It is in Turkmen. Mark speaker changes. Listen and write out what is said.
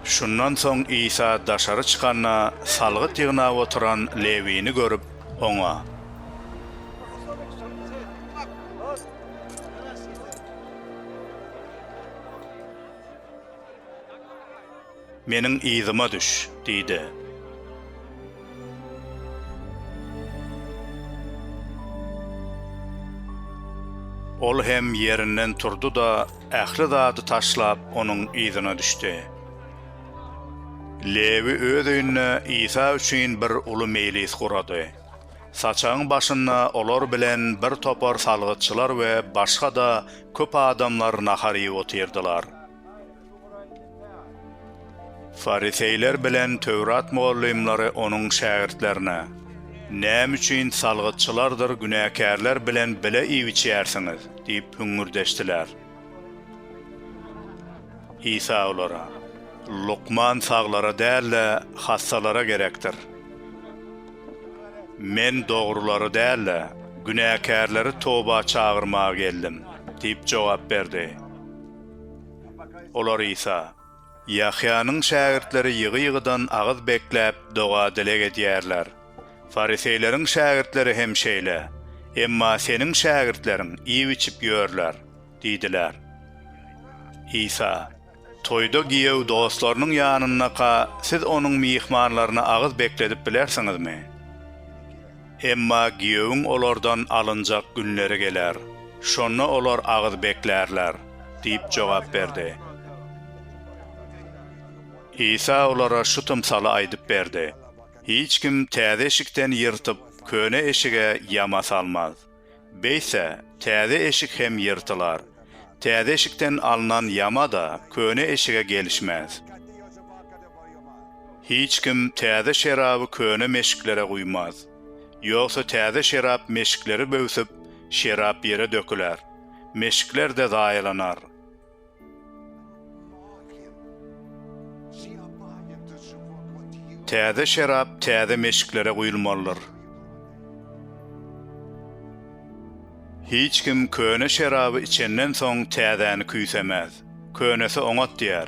Speaker 1: Şundan soň Isa daşary çykanda, salgyt ýygnap oturan Lewini görüp, oňa. Meniň yzyma düş! diýdi. Ol hem ýerinden turdy-da, ähli zady taşlap, onuň yzyna düşdi. Lewi öz öýünde Isa üçin bir uly meýlis gurady. Saçagyň başynda olar bilen birtopar salgytçylar we başga-da köp adamlar nahar iýip otyrdylar. Fariseýler bilen Töwrat mugallymlary Onuň şägirtlerine, Näme üçin salgytçylardyr günäkärler bilen bile iýip-içýärsiňiz? diýip hüňňürdeşdiler. Isa olara, Lukman saglara däl-de, hassalara gerekdir. Men dogrulary däl-de, günäkärleri toba çagyrmaga geldim diýip jogap berdi. Olar Isa, Ýahýanyň şägirtleri ýygy-ýygydan agyz bekläp, doga-dileg edýärler. Fariseýleriň şägirtleri hem şeýle, emma seniň şägirtleriň iýip-içip ýörler diýdiler. Isa, Toýda giýew dostlarynyň ýanyndaka siz onuň myhmanlaryny agyz bekledip bilersiňizmi? Emma giýewiň olardan alynjak günleri geler, şonda olar agyz beklärler diýip jogap berdi. Isa olara şu tymsaly aýdyp berdi, Hiç kim täze eşikden ýyrtyp, köne eşige ýama salmaz. Beýtse, täze eşik hem ýyrtylar. Täze eşikden alnan ýama-da köne eşige gelişmez. Hiç kim täze şeraby köne meşiklere guýmaz. Ýogsa täze şerap meşikleri böwsüp, şerap ýere döküler. Meşikler-de zaýalanar. Täze şerap täze meşiklere guýulmalydyr. Hiç kim köne şeraby içenden soň täzäni küýsemäz. Könesi oňat diýer.